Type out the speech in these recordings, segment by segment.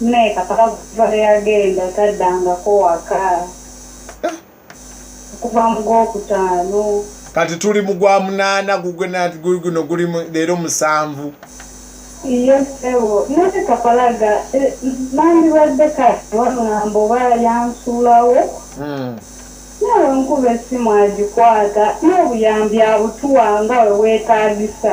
Naye kakaba kuva lweyagenda taddangako waka eh. okuva mu gwokutaano kati tuli mu gwa munaana guguno guli leero musanvu iyo sebo naye kapalaga eh, nandibadde kati wamulamba oba yansuulawo hmm. nawe nkuba essimu agikwata n'obuyambi abutuwa nga we weetaagisa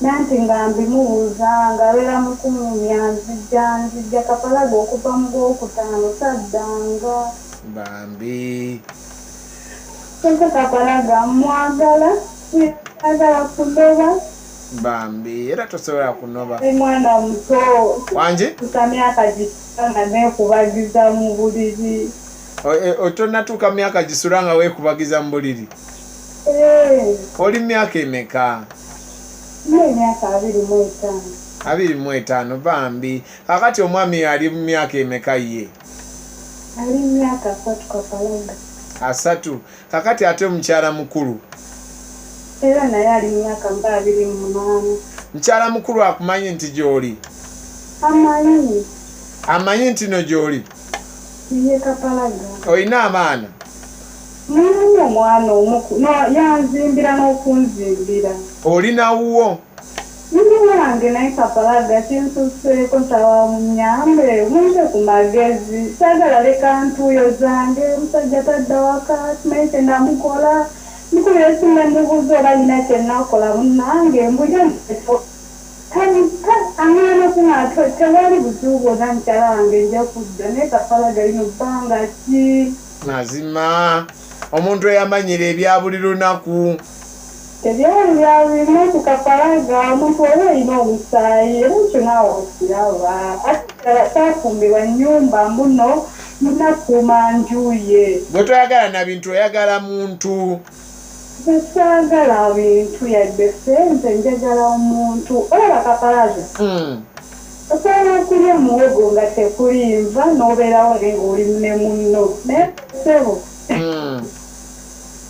Nanti nga mbimubuza nga abera mukumumya nzija nzija kapalaga okuva mugwokutano sadanga. Bambi. Sente kapalaga mwagala agala kunoba. Bambi era tosobola kunoba. Mwana muto. Wangi. Kutamyaka jisita nga nekubagiza mubuliri. Otonatuka myaka jisura nga wekubagiza mubuliri. Hey. Oli myaka emeka. n'emyaka abiri mu etaano. Abiri mu etaano bambi. Kakati omwami ali mu myaka emeka ye? Ali mu myaka asatu kapalaga. Asatu. Kakati ate mukyala mukulu? Era naye ali mu myaka nga abiri mu munaana. Mukyala mukulu akumanyi nti gy'oli? Amanyi. Amanyi ntino gy'oli? Ye kapalaga. Olina abaana? Nalonda omwana omu kuno yanzimbira n'okunzimbira. Oli na wuwo? Ndi wange naye kapalaga kinsuseeko nsaba munyambe mumpe ku magezi saagala leka ntuuyo zange omusajja tadda waka simanyi kye namukola mukubira essimu ne mubuuza oba alina kye nakola munnange mbu ye mutefu tanika amwana ku matwe tewali buzibu bwonna mukyala wange nja kudda naye kapalaga lino bbanga ki mazima omuntu eyamanyira ebya buli lunaku ebyali byabirimu okukakalaga omuntu oba olina omusaayi era ekyo naawe okiraba ate kirala kyafumbirwa nnyumba mbuno munakuuma njuye gwe toyagala na bintu oyagala muntu Nze saagala bintu yadde sente njagala omuntu olaba kapalaza mm. osobola okulya muwogo nga tekuli nva n'obeerawo naye ngaoli ne munno naye sebo mm.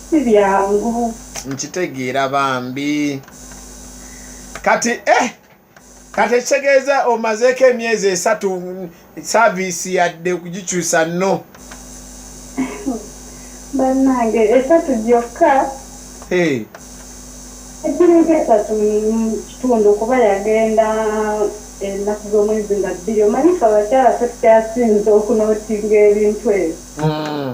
si byangu nkitegeera bambi kati eh kati ekitegeeza omazeeko emyezi esatu saaviisi yadde okugikyusa no bannange esatu gyokka egiringa esatu mukitundu kuba yagenda ennaku z'omwezi nga bbiri omanyifa abakyala fe tukyasinza okunootinga ebintu ebyo hmm.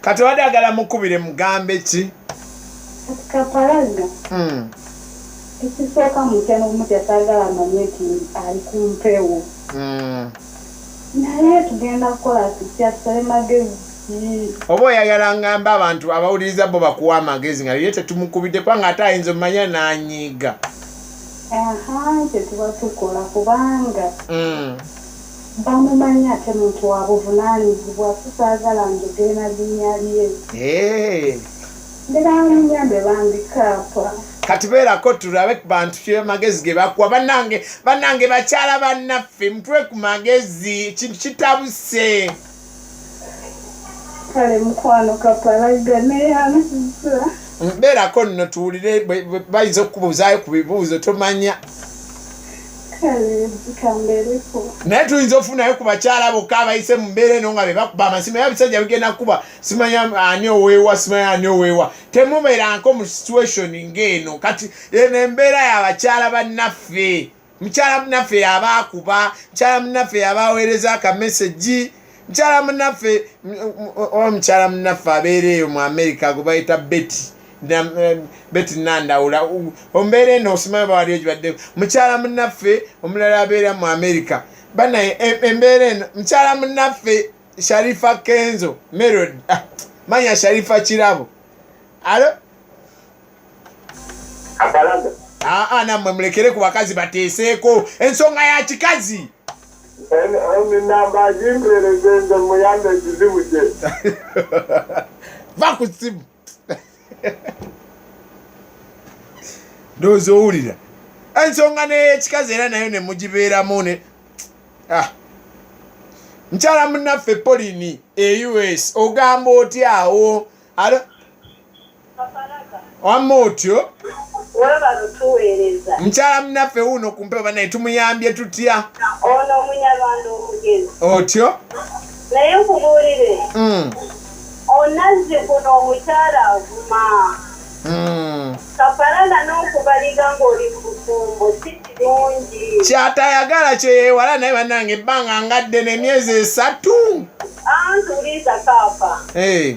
kati obadde agala mukubire mugambe ki kapalaga hmm. ekisooka mutyana omutya sagala amanye nti ali ku mpewo hmm. naye tugenda kukola tutya tusale magezi oba oyagala ngamba abantu abawuliriza bo bakuwa amagezi nga ye tetumukubidde kubanga ate ayinza omumanya nanyiiga aha kyetuba tukola kubanga hmm. Bamumanyi ate muntu wabuvunanyizibwa so sagala njogere na linya lye. Eeh. Mbera munyambe bambi kaapa. Kati beerako tulabe ku bantu kye magezi ge bakuwa bannange bannange bakyala bannaffe mutwe ku magezi ekintu kitabuse. kale mukwano kapalaga neyanziza beerako nno tuwulire bayinza okukubuuzaayo ku bibuuzo tomanya naye tuyinza ofunayo ku bakyala bokka abayise mu mbeera eno nga bebakuba amasimu era bisajja bigenda kukuba simanya ani oweewa simanya ani oweewa temubeeranko mu situation ng'eno kati eno embeera y'abakyala bannaffe mukyala munaffe yaba akuba mukyala munaffe yaba aweereza akamesegi mukyala munaffe oba mukyala munaffe abeera eyo mu amerika gwe bayita beti eh, beti nandawula ombeera eno osimaa bawaliyo gibadde mukyala munaffe omulala abeera mu amerika banaye e, embeera eno mukyala munaffe sharifa kenzo merod ah, manya sharifa kirabo alo aa namwe mulekere ku bakazi bateeseeko ensonga ya kikazi va ku simu ndowooza owulira ensonga neyekikazi era nayo nemugibeeramu ne ah. mukyala munaffe polini e us ogamba otyawo wamma otyo mukyala munaffe wuuno ku mpewo banaye tumuyambye tutya ono omunyarwanda omugezi otyo naye nkubuulire hmm. onazzi kuno omukyala avuma hmm. kaparana n'okubaliga ng'oli mu bufumbo si kirungi kyatayagala kyeyewala naye bannange ebbanga ngadde n'emyezi esatu antuliza kaapa eh.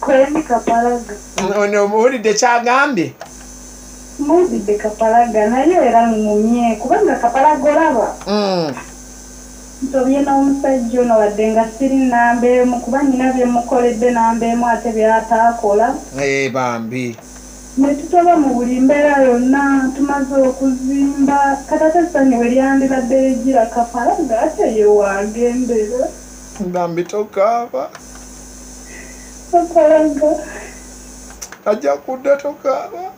Kwani kapalaga. Ono owulidde kyagambye? Muzidde kapalaga naye era ŋŋumye kubanga kapalaga olaba. Mm. Nsobye n'omusajja ono wadde nga siri nnamba emu kuba nnina bye mmukoledde namba emu ate by'ataakola. Ee eh, bambi. Ne tutoba mu buli mbeera yonna tumaze okuzimba kati ate essanyu we lyandibadde ligira kapalaga ate ye waagendera. Bambi tokaaba. Akolanga. Ajja kudda tokaaba.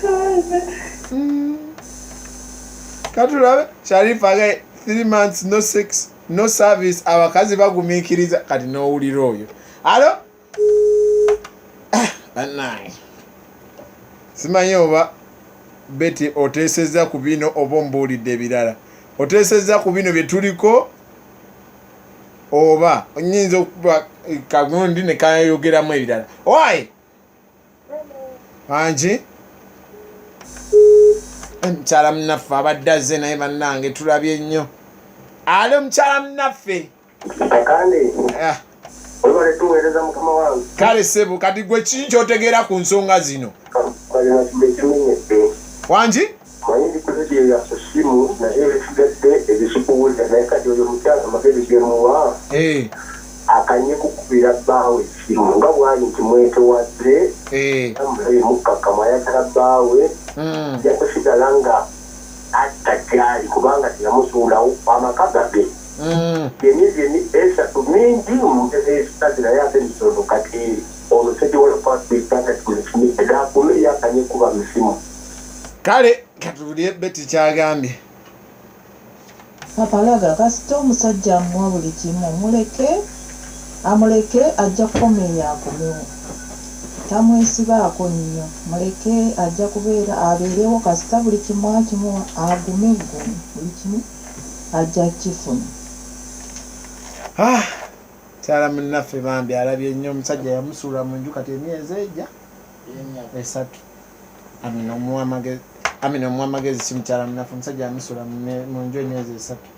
Kaana. Mm. Katulabe Sharifa ga 3 months no sex no service abakazi bagumiikiriza kati n'owulira oyo. Alo? Ah, bannange simanyi oba beti oteesezza ku bino oba ombuulidde ebirala oteesezza ku bino bye tuliko oba nyinza okuba kagundi ne kayogeramu ebirala owaye angi mukyala munaffe abadde azze naye bannange tulabye nnyo ali omukyala munaffe ah. kale sebo kati gwe kii kyotegeera ku nsonga zino wangi akanye kukubira bbaawe esimu nga bwali nti mwetowadde eh. amulabe mukkakkamu ayagala bbaawe hmm. yakusigala nga atta gyali kubanga teyamusuulawo amaka gage byeni byeni esatu mingi mugezi ekikazi naye ate mitono kati ono sediwalakwatbitagatulekimidakulueyakanye kuba misimu kale katubulire beti kyagambye papalaga kasita omusajja amuwa buli kimu muleke amuleke ajja kukomeeya akomewo tamwesibaako nnyo muleke ajja kubeera abeerewo kasita buli kimu akimuwa agume ggumu buli kimu ajja kifuna. Ah, kyala munnaffe bambi alabye nnyo omusajja yamusuula mu nju kati emyezi egya esatu amina omuwa amagezi amina omuwa amagezi si mukyala munnaffe omusajja yamusuula mu nju emyezi esatu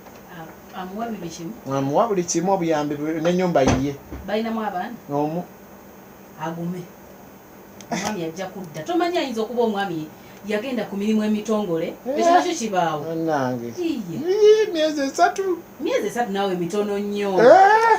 amuwa buli kimu obuyambi nenyumba yiye omu agume omwami ajja kudda tomanyi ayinza okuba omwami yagenda ku mirimu emitongole eh. ekyo nakyo kibaawo nange myezi esatu myezi esatu naawe mitono nnyo eh.